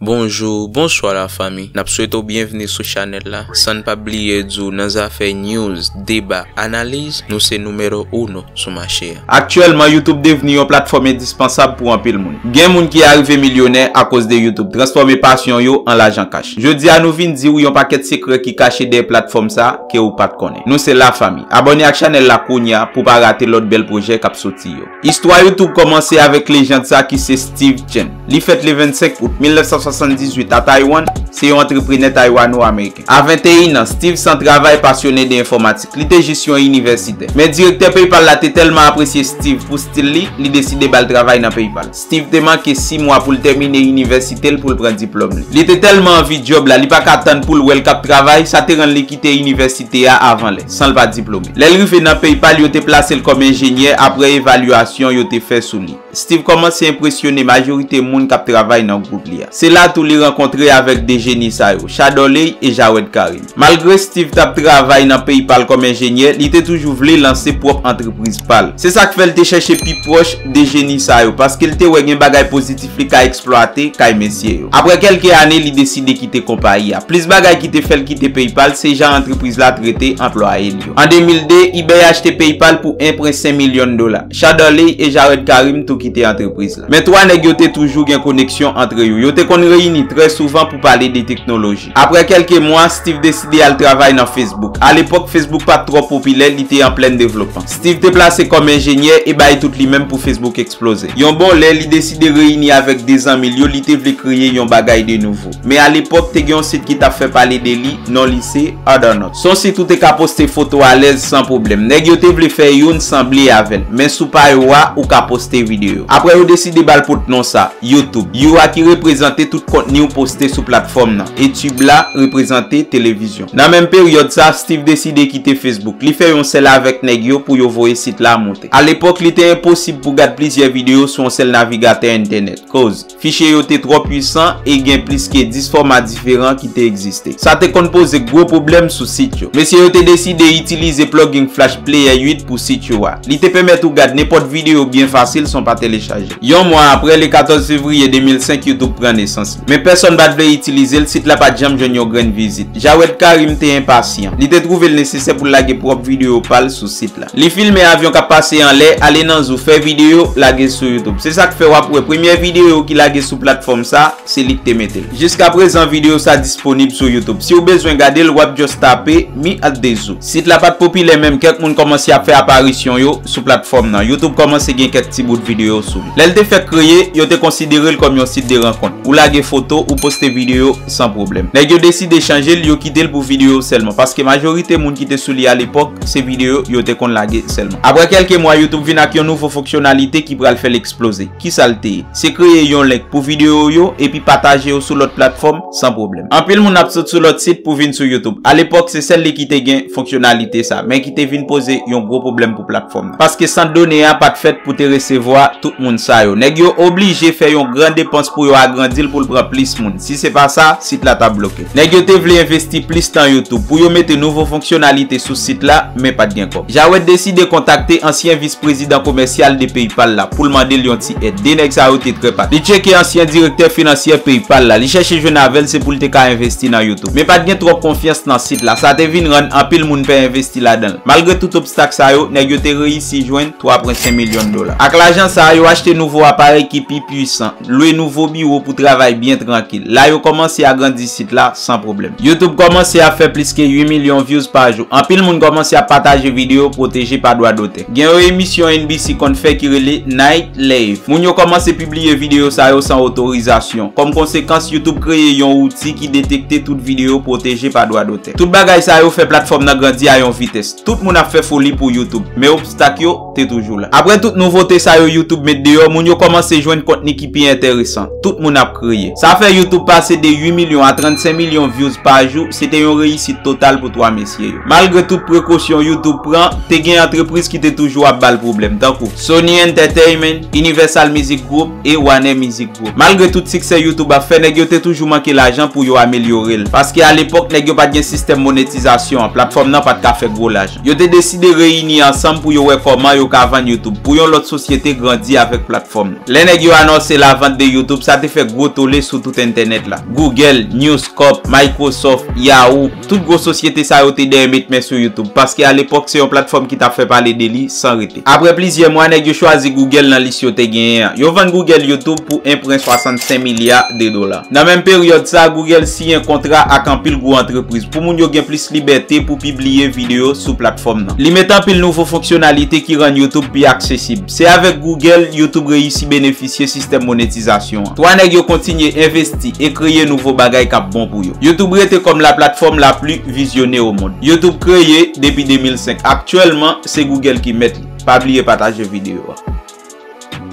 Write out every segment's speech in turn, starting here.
Bonjou, bonswa la fami. Nap swete w byenvni sou chanèl la. San n pa bliye di w nan zafè news, deba, analiz, nou se numero uno sou mache a. Aktyèlman, YouTube devni yon platfòm endispansab pou anpil moun. Gen moun ki arive milyonè akoz de YouTube, transfòme pasyon yo an lajan kach. Jodi a nou vin di w yon pakèt sekrè ki kache dèyè platfòm sa, ke ou pat konnen. Nou se la fami. Abòne ak chanèl la kounya pou pa rate lòt bèl pwojè kap soti yo. Istwa YouTube kòmanse avèk lejand sa ki se Steve Chen. Li fèt le 25 out 1978 a Taiwan, se yon antreprenè Taywano-Ameriken. A 21 an, Steve san travay pasyone de enfòmatik. Li te jis yon inivèsitè. Men direktè PayPal la te tèlman apresye Steve pou stil li, li deside bal travay nan PayPal. Steve te manke 6 mwa pou l tèmine inivèsite l pou l pran diplòm li. Li te tèlman anvi djòb la, li pa ka tann pou l wè l k ap travay, sa te rann li kite inivèsite a avan lè, san l pa diplome. Lè l rive nan PayPal, yo te plase l kòm enjenyè apre evalyasyon yo te fè sou li. Steve kòmanse enpresyone majorite moun k ap travay nan gwoup li a. Se la tou li rankontre avèk 2 jeni sa yo, Shadoley e Jawed Karim. Malgre Steve t ap travay nan peyi pa l kòm enjenyè, li te toujou vle lanse pwòp antrepriz pa l. Se sa k fè l te chèche pi pwòch de jeni sa yo, paske l te wè gen bagay pozitif li ka eksplwate kay mesye yo. Apre kèlke ane, li deside kite konpayi a. Plis bagay ki te fè l kite PayPal se jan antrepriz la trete anplwaye l yo. An 2002, eBay achte PayPal pou 1 pwen 5 milyon dola. Shadoley e Jared Karim tou kite antrepriz la. Men twa nèg yo te toujou gen koneksyon antre yo. Yo te konn reyini trè souvan pou pale de teknoloji. Apre kelke mwa, Steve deside al travay nan Facebook. A lepok, Facebook pat tro popilè, li te an plenn devlopman. Steve te plase kom enjenyè e bay tout li menm pou Facebook eksploze. Yon bon lè, li deside reyini avek 2 zanmi l yo, li te vle kreye yon bagay de nouvo. Men a lepok, te gen yon sit ki tap fè pale de li, non li se, Othernote. Son sit ou te ka poste foto alèz san pwoblèm. Nèg yo te vle fè youn sanble avel, men sou pa yo a, ou ka poste video. Apre yo deside bal pot non sa. YouTube. You a ki reprezante tout kontni ou poste sou platfòm nan. E tube la reprezante televizyon. Nan menm peryòd sa, Steve deside kite Facebook. Li fè yon sèl avèk nèg yo pou yo voye sit la monte. Alepòk, li te enposib pou gad plizyè videyo sou yon sèl navigatè entènèt. Koz, fichye yo te twò pwisan e gen plis ke 10 fòma diferan ki te egziste. Sa te konn poze gwo pwoblèm sou sit yo. Mesye yo te deside itilize plugin Flash Player 8 pou sit yo a. Li te pèmèt ou gad nenpòt videyo byen fasil san w pa telechaje. Yon mwa apre, le 14 fevriye 2005, YouTube pran nesans li. Men pèsonn pa t vle itilize l, sit la pa t janm jwenn yon grenn vizit. Jawed Karim te enpasyan. Li te twouve l nesesè pou l lage pwòp videyo pa l sou sit la. Li filme avyon k ap pase anlè, ale nan zou, fè videyo, lage sou YouTube. Se sa k fè w ap wè premyè videyo ki lage sou platfòm sa, se li k te mete l. Jiska prezan videyo sa disponib sou youtube. Si w bezwen gade l wap just tape Mi at the Zoo. Sit la pat popilè menm kèk moun kòmanse ap fè aparisyon yo sou platfòm nan. Youtube kòmanse gen kèk ti bout videyo sou li. Lè l te fèk kreye, yo te konsidere l kòm yon sit de rankont. Ou lage foto, ou poste videyo san pwoblèm. Nèg yo deside chanje l, yo kite l pou videyo sèlman. Paske majorite moun ki te sou li alepòk, se videyo yo te konn lage sèlman. Aprè kèlke mwa, youtube vin ak yon nouvo fonksyonalite ki pral fè l eksploze. Kisa l te ye? Se kreye yon link pou videyo ou yo epi pataje yo sou lòt platfòm san pwoblèm. Anpil moun ap sot sou lòt sit pou vin sou YouTube. Alepòk, se sèl li ki te gen fonksyonalite sa, men ki te vin poze yon gwo pwoblèm pou platfòm nan. Paske sant done a pa t fèt pou te resevwa tout moun sa yo. Nèg yo oblije fè yon gran depans pou yo agrandi l pou l pran plis moun. Si se pa sa, sit la t ap bloke. Nèg yo te vle envesti plis tan YouTube pou yo mete nouvo fonksyonalite sou sit la, men pat gen kòb. Jawed deside kontakte ansyen vis prezidan komèsyal de PayPal la pou l mande l yon ti èd. 2 nèg sa yo te trè pat. Li tcheke ansyen direktè finansyè PayPal la, li chèche jwenn avè l se pou l te ka envesti nan YouTube. Men pat gen twòp konfyans nan sit la, sa te vin rann anpil moun pè envesti ladan l. Malgre tout obstak sa yo, nèg yo te reyisi jwenn 3,5 milyon dola. Ak lajan sa a, yo achte nouvo aparèy ki pi puisan. Lwe nouvo biwo pou travay byen trankil. La yo kòmanse agrandi sit la san pwoblèm. Youtube kòmanse ap fè plis ke 8 milyon vyouz pa jou. Anpil moun kòmanse ap pataje videyo pwoteje pa dwa dotè. Gen yon emisyon NBC konn fè ki rele Night Lave. Moun yo kòmanse pibliye videyo sa yo san otorizasyon. Kòm konsekans, Youtube kreye yon wouti ki detekte tout videyo pwoteje pa dwa dotè. Tout bagay sa yo fè platfòm nan grandi a yon vitès. Tout moun ap fè foli pou Youtube. Men obstak yo. te toujou la. Aprè tout nouvote sa yo YouTube met deyò, moun yo kòmanse jwenn kontni ki pi enteresan. Tout moun ap kreye. Sa fè YouTube pase de 8 milyon a 35 milyon vyouz pa jou, se te yon reyisit total pou 3 mesye yo. Malgre tout prekosyon YouTube pran, te gen antrepriz ki te toujou ap ba l pwoblèm, tankou, Sony Entertainment, Universal Music Group e Warner Music Group. Malgre tout siksè YouTube ap fè, nèg yo te toujou manke lajan pou yo amelyore l. Paske alepòk, nèg yo pa t gen sistèm monetizasyon an, platfòm nan pa t ka fè gwo lajan. Yo te deside reyini ansanm pou yo wè kòman yo ka vann YouTube pou yon lòt sosyete grandi avèk platfòm nan. Lè nèg yo anonse lavant de YouTube, sa te fè gwo tole sou tout entènèt la. Google, News Corp, Microsoft, Yahoo, tout gwo sosyete sa yo te dèyè met men sou YouTube, paske alepòk se yon platfòm ki t ap fè pale de li san rete. Apre plizyè mwa, nèg yo chwazi Google nan lis yo te genyen an. Yo vann Google YouTube pou 1 pwen 65 milya de dola. Nan menm peryòd sa, Google siyen kontra ak anpil gwo antrepriz pou moun yo gen plis libète pou pibliye videyo sou platfòm nan. Li met anpil nouvo fonksyonalite ki rann YouTube pi aksesib. Se avèk Google, YouTube reyisi benefisye sistèm monetizasyon an. Twa nèg yo kontinye envesti e kreye nouvo bagay k ap bon pou yo. YouTube rete kòm laplatfòm lapli vizyone omond. YouTube kreye depi 2005. Aktyèlman, Se Google ki mèt li. Pa bliye pataje video a.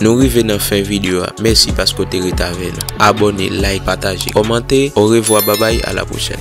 Nou rive nan fen video a mèsi paske ou te ret avè nou abone like pataje kòmante orevwa babay a la pwochèn.